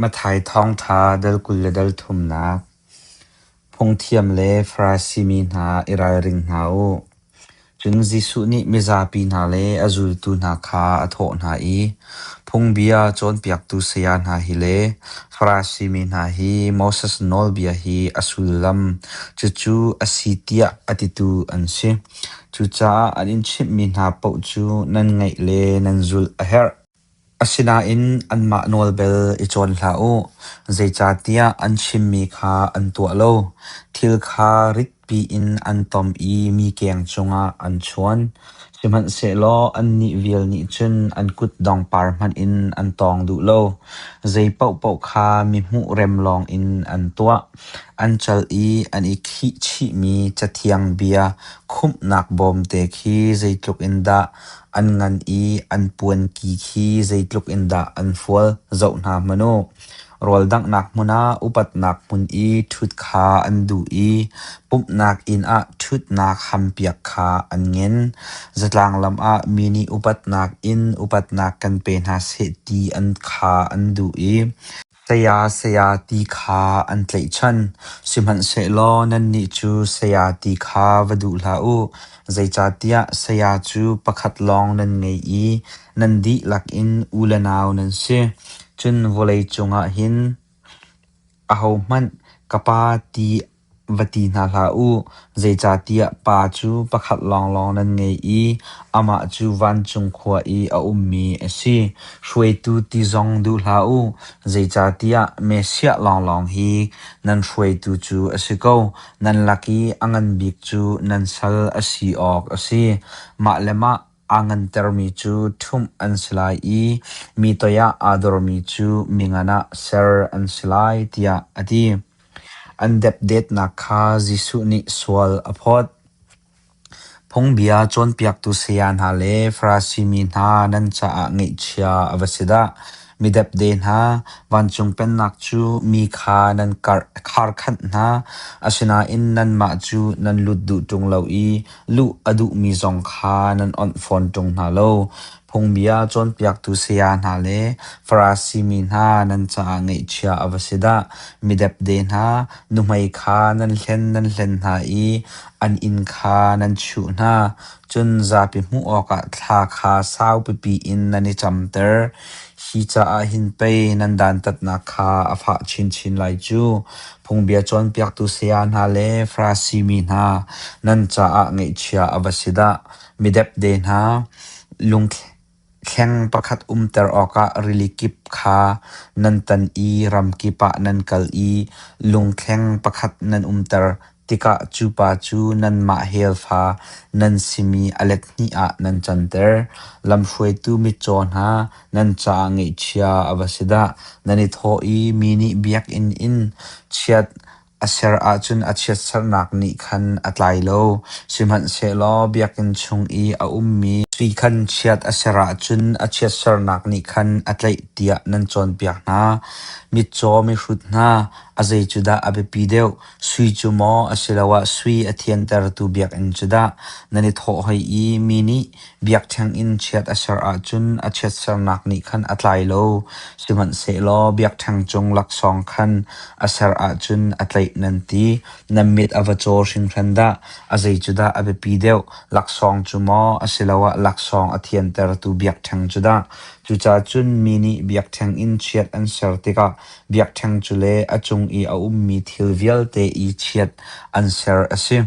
Matthai Thawngṭha dal kul le dal thumnak Phungthiam le Farasi mi hna i ralring hna u. Cun Jesuh nih mizapi hna le a zultu hna kha a thawh hna i, Phungbia cawnpiaktu saya hna hi le Farasi mi hna hi Moses nawlbia hi a sullam cucu a si tiah a titu an si. Cucaah an in chimhmi hna paoh cu nan ngaih le nan zulh a herh. Asinain anmah nawl bel i cawn hlah u, zeicahtiah an chimmi kha an tuah lo. Thil kha ritpi in an tom i mi keng cungah an chuan. Sihmanhsehlaw annih vial nih cun an kutdong par hmanh in an tawng duh lo. Zei paohpaoh kha mihmuh rem lawngin an tuah. An cal i an i khihchihmi cathiang bia khumhnak bawmte khi zeitluk in dah An ngan i an puanki khi zeitluk in dah an fual zoh hna hmanh u. Rawldanghnak hmun ah upatnak hmun i ṭhut kha an duh i pumhnak inn ah ṭhutnak hampiak kha an ngen. Zatlang lam ah mi nih upatnak in upatnak kan pe hna seh ti an kha an duh i Saya saya ti kha an tlaihchan, sihmanhsehlaw nannih cu saya ti kha va duh hlah u, zeicahtiah saya cu pakhat lawng nan ngei i nan dihlak in u le nau nan si. Cun vawlei cungah hin ahohmanh ka Pa ti Va ti hna hlah u, zeicahtiah pa cu pakhat lawnglawng nan ngei i amah cu vancung khua i a ummi a si. Hruaitu ti zong duh hlah u, zeicahtiah Messiah lawnglawng hi nan hruaitu cu a si ko. Nan lak i a ngan bik cu nan sal a si awk a si. Mah le mah Aa ngantermi cu ṭhumh an si lai i mi toiah aa dormi cu mi ngan ah ser an si lai tiah a ti. An depdetnak kha Jesuh nih sual a phawt. Phungbia cawnpiaktu saya hna le Farasi mi hna nan caah ngaihchia a va si dah! Midepde hna, vancung Pennak cu mi kha nan kharkhanh hna, asinain nanmah cu nan lut duh ṭung lo i luh a duhmi zong kha nan awnh fawn ṭung hna lo. Phungbia cawnpiaktu saya hna le Farasi mi hna nan caah ngeihchia a va si dah! Midepde hna, nuhmei kha nan hlen nan hlen hna i an inn kha nan chuh hna. Cun zapi hmuh awkah thla kha sau pipi in nan i camter. Hi caah hin pei nan dantatnak kha a fah chinchin lai cu. Phungbia cawnpiaktu saya hna le Farasi mi hna, nan caah ngaihchia a va si dah! Midepde hna, lung Kheng pakhat umter awkah rili kip kha nan tan i ram kip ah nan kal i lungthleng pakhat nan umter tikah cu pa cu nanmah helfa nan simi a let hnih ah nan canter. Lamhruaitu mitcaw hna nan caah ngeihchia a va si dah! Nan i thawh i mi nih biakinn in chiat A ser ahcun a chiatserhnak nih khan a tlai lo, sihmanhsehlaw biakinn chung i a ummi ti khan chiat a ser ahcun a chiatserhnak nih khan a tlaih tiah nan cawnpiak hna. Mitcaw mihrut hna, a zei cu dah a biapi deuh? Sui cu maw asiloah sui a thiantertu biakinn cu dah? Nan i thawh hoi i mi nih, Biakṭheng in chiat a ser ahcun a chiatsernak nih khan a tlai lo, sihmanhsehlaw biakṭheng cung laksawng khan a ser ahcun a tlaih nan ti. Na mit a va caw hringhran dah! A zei cu dah a biapi deuh? Laksawng cu maw asiloah laksawng a thiantertu biakṭheng cu dah? Cucaah cun mi nih biakṭheng in chiat an ser tikah biakṭheng cu le a cung i a ummi thil vialte i chiat an ser a si.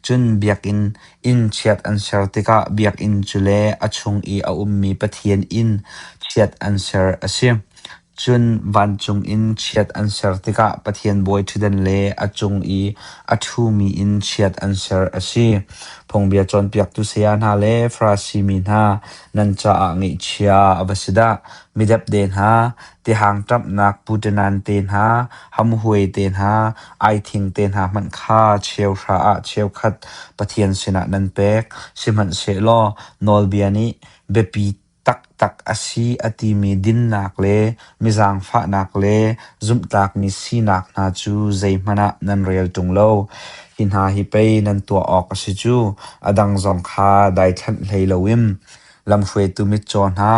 Cun biakinn Inn chiat an ser tikah biakinn cu le a chung i a ummi Pathian inn chiat an ser a si. Cun vancung in chiat an ser tikah Pathian bawi ṭhutdan le a cung i a ṭhumi in chiat an ser a si. Phungbia cawnpiaktu saya hna le Farasi mi hna, nan caah ngaihchia a va si dah! Mi depde hna, Tihangṭamhnak puṭinan te hna, hamhuai te hna, aithing te hna hmanh kha cheuhra ah cheukhat Pathian sinah nan pek, sihmanhsehlaw nawlbia nih biapi taktak a si a timi dinnak le mizangfahnak le zumhtlakmi sinak hna cu zeihmanh ah nan rel ṭung lo. Hi hna hi pei nan tuah awk a si cu, a dang zong kha daithlanh hlei loin Lamhruaitu mitcaw hna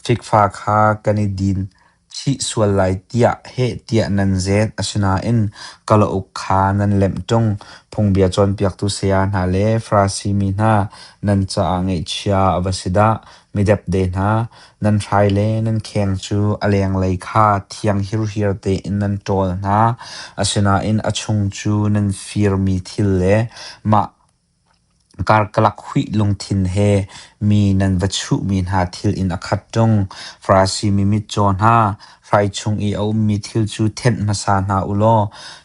fikfa kha kan i din chih sual lai tiah heh tiah nan zet. Asinain kalauk kha nan lemh ṭung. Phungbia cawnpiaktu saya hna le Farasi mi hna nan caah ngaihchia a va si dah! Midepde hna, nan hrai le nan kheng cu a lenglei kha thianghirhir tein nan ṭawl hna. Asinain a chung cu nan firmi thil le mah Karkalak huih lungthin he mi nan va chuhmi hna thil in a khat ṭung. Farasi mi mitcaw hna, hrai chung i a ummi thil cu thenh hmasa hna u law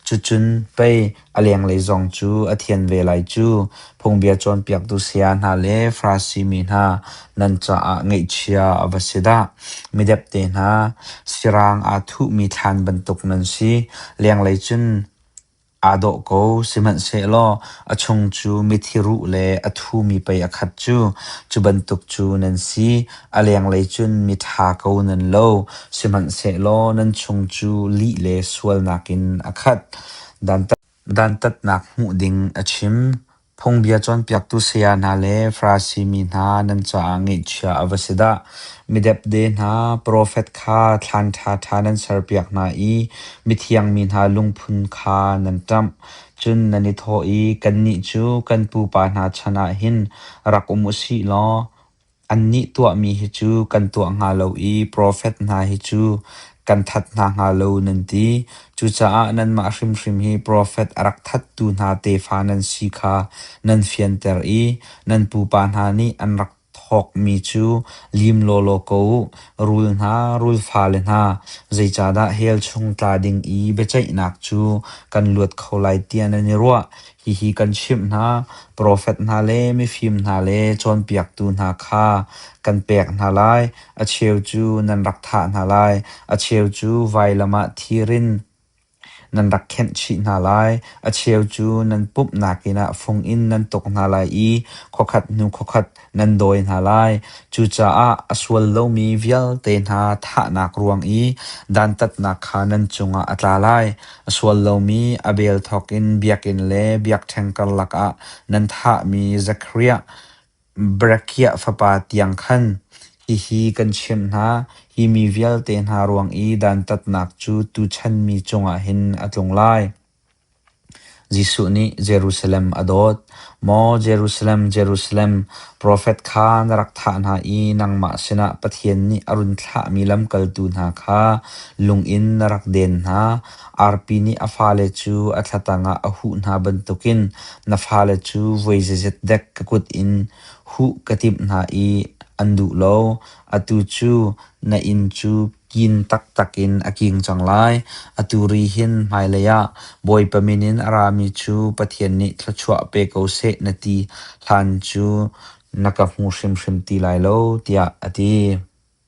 cucun pei a lenglei zong cu a thian ve lai cu. Phungbia cawnpiaktu saya hna le Farasi mi hna, nan caah ngaihchia a va si dah! Midepte hna, sirang aa thuhmi thlan bantuk nan si, lenglei cun Aa dawh ko, sihmanhsehlaw a chung cu mithi ruh le a thumi pei a khat cu. Cu bantuk cu nan si. A lenglei cun miṭha ko nan lo, sihmanhsehlaw nan chung cu lih le sualnak in a khat. Dantatnak hmuh ding a chim. Phungbia cawnpiaktu saya hna le Farasi mi hna nan caah ngeihchia a va si dah! Midepde hna profet kha thlan ṭhaṭha nan serpiak hna i mithiang mi hna lungphun kha nan ṭamh. Cun nan i thawh i, “Kannih cu kan pupa hna chan ah hin rak um u sih law, Annih tuahmi hi cu kan tuah hnga lo i profet hna hi cu kan that hna hnga lo nan ti. Cucaah nanmah hrimhrim hi profet a rak thattu hna tefa nan si kha nan fianter i nan pupa hna nih an rak thawkmi cu lim lawlaw ko u. Rul hna, rul fale hna, zeicahdah hell chung tla ding i biaceihnak cu kan luat kho lai tiah nan i ruah? Hihi kan chimh hna, profet hna le mifim hna le cawnpiaktu hna kha kan pek hna lai. A cheu cu nan rak thah hna lai, a cheu cu vailam ah thir in nan rak khenh chih hna lai. A cheu cu nan pumhnak inn ah fung in nan tuk hna lai i khokhat hnu khokhat nan dawi hna lai. Cucaah a sual lomi vialte hna thahnak ruang i dantatnak kha nan cungah a tla lai. A sual lomi a bel thawk in biakinn le biakṭheng karlak ah nan thahmi Zakariah Berekiah fapa tiang khan hihi kan chimh hna, hi mi vialte hna ruang i dantatnak cu tuchan mi cungah hin a tlung lai. Jesuh nih Jerusalem a dawt. Maw Jerusalem, Jerusalem, profet kha na rak thah hna i nangmah sinah Pathian nih a run thlahmi lamkaltu hna kha lung in na rak den hna. Arpi nih a fale cu a thlatang ah a huh hna bantukin na fale cu voi zeizet dek ka kut in huh ka timh hna i an duh lo. Atu cu na inn cu Kin taktak in a king cang lai. Atu ri hin hmailei ah Bawipa min in a rami cu Pathian nih thluachuah pe ko seh na ti hlan cu na ka hmu hrimhrim ti lai lo, tiah a ti.